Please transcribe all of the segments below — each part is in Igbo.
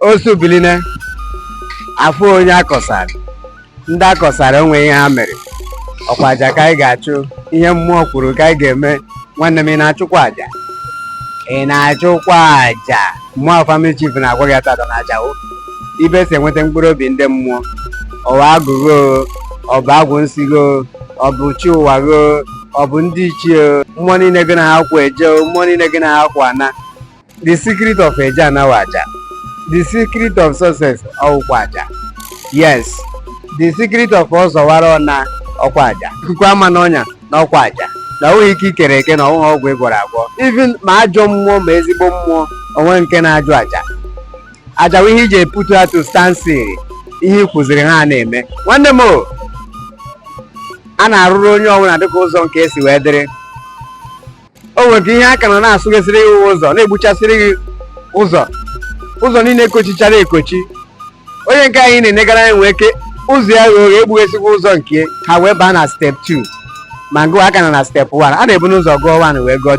osu biline afụ onye akọsara ndị akọsara onwe ihe ha mere ọkwa aja ka anyị ga-achụ ihe mmụọ kwuru ka anyị ga-eme nwanne m ị na-achụkwa aja ị na-achụkwa aja mmụọ family chief na-agwa gị taata na aja ọ ebe e si enweta mkpụrụ obi ndị mmụọ ọ wụ agwụ gị o ọ bụ agwụ nsị gị o ọ bụ chi ụwa gị o ọ bụ ndị ichie mmụọ niile gị na ha kwa eje mmụọ niile gị na ha kwa ana the secret of eje ana wụ aja the secret of success ọwụkwa aja yes the secret of ọzọwara ọna ọkwa aja ikuku ama n'ọnya na ọkwa aja na ọ wụghị ike i kere eke na ọ wụghị ọgwụ ị gwọrọ agwọ even ma ajọ mmụọ ma ezigbo mmụọ o nwere nke na-ajụ aja aja wụ ihe e ji eputu ha to standstill ihe i kwuziri ha na-eme nwanne m a na-arụrụ onye ọbụla dịka ụzọ nke ya si wee dịrị o nwere ihe a ka nọ na-asụghesịrị gị ụzọ na-egbuchasịrị gị ụzọ ụzọ niile ekochichara ekochi onye nke ị na-enegara anya nwee ike ụzọ ya ghe oghe egbughesịkwa ụzọ nke ha wee baa na step 2 ma ngụ a ka nọ na step 1 a na-ebunu ụzọ gụọ 1 wee gụọ 2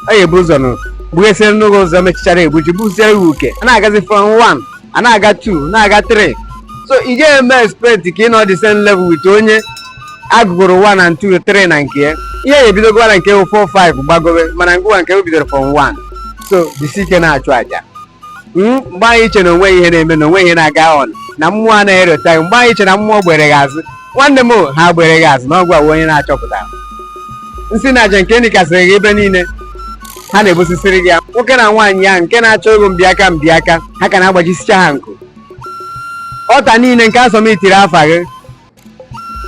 a ga-ebu ụzọ nụ gbughesịrị n'ụzọ ụzọ mechichara egbuchi gbusiere gị uke a na-agazi from 1 a na-aga 2 na-aga 3 so ị ga-eme expect ka ị nọ the same level with onye agụgoro 1 and 2 3 na nke ya ihe ya ebidogo na nke 4 5 gbagowe mana ngụwa nke o bidoro from 1 so jisi ike na-achụ aja Mm, mgbe anyị iche na onwe ihe na-eme na onwe ihe na-aga on na mmụọ anaghị erota gị mgbe anyị iche na mmụọ gbere gị azụ nwanne m o, ha gbere gị azụ na ọgwụ awụ onye na-achọpụta nsị na aja nke e nikasịrị gị ebe niile ha na-ebusisiri gị ya nwoke na nwaanyị ya nke na-achọ ego mbịaka mbịaka ha ka na-agbajisicha ha nku altar niile nke a submitiri afa gị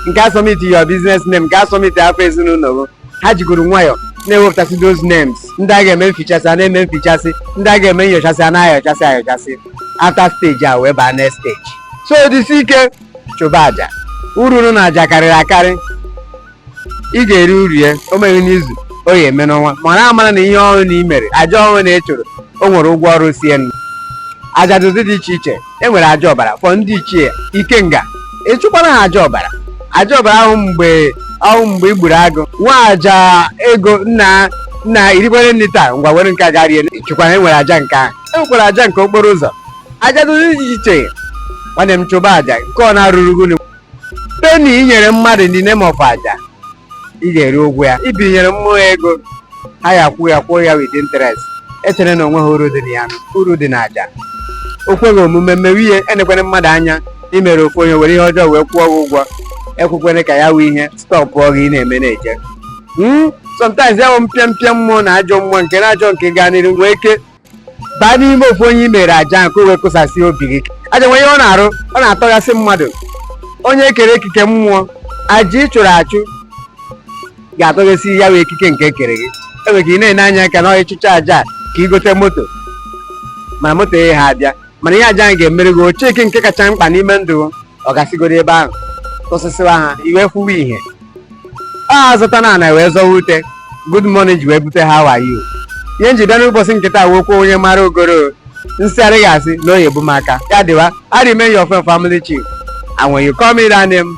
nke a submiti your business name nke a submiti afa ezinụlọ gị ha jigoro nwayọọ na-ewepụtasị those names ndị a ga-eme mfichasị a na-eme mfichasị ndị a ga-eme nyọchasị a na-ayọchasị ayọchasị after stage a wee baa next stage so disi ike chụba aja uru dị na aja karịrị akarị ị ga-eri uru ya o meghị n'izu o ya eme n'ọnwa mara amara na ihe ọbụna i mere aja ọbụna ị chụrụ o nwere ụgwọ ọrụ si enu aja dị ụdị dị iche iche e nwere aja ọbara for ndị ichie ikenga ị chụkwara ha aja ọbara aja ọbara ahụ mgbe ahụ mgbe ị gburu agụ nwa aja ego nna nna i rikwere nri taa ngwa were nke a gaa rie ị chụkwara e nwere aja nke ahụ e nwekwara aja nke okporo ụzọ aja dị ụdị dị iche iche nwanne m chụba aja nke ọ na-arụrụ gị penny i nyere mmadụ in the name of aja ị ga-eri ụgwọ ya i binyere mmụọ ego ha ya kwụọ ya kwụọ ya with interest echere na o nweghị uru dị na ya uru dị na aja o kweghị omume mewe ihe enekwere mmadụ anya i mere ofu onye were ihe ọjọọ wee kwụọ gị ụgwọ ekwekwere ka ya wụ ihe stopụọ gị ị na-eme na-eje Hmm? sometimes ya bụ mpịa mpịa mmụọ na ajọ mmụọ nke na ajọ nke gaa n'iru nwee ike baa n'ime ofu onye i mere aja nke wee kụsasị obi gị aja nwere ihe ọ na-arụ ọ na-atọghasị mmadụ onye e kere ekike mmụọ aja ị chụrụ achụ ga-atọghasị ya wee ekike nke e kere gị enwere ka ị na-ene anya ka na ị chụchaa aja ka i gote moto ma moto ya ha abịa mana ihe aja ahụ ga-emere gị ocheke nke kacha mkpa n'ime ndụ ọ gasịgoro ebe ahụ tụsịsịwa ha iwe kwuwe ihe a zụta na ana wee zọwa ute good morning ji wee bute ha wayo ihe m ji bịa n'ụbọchị nke taa wee kwuo onye mara ogoro nsị adịghị asị na oyi bụ m aka ya dịwa I remain your family chief and when you call me that name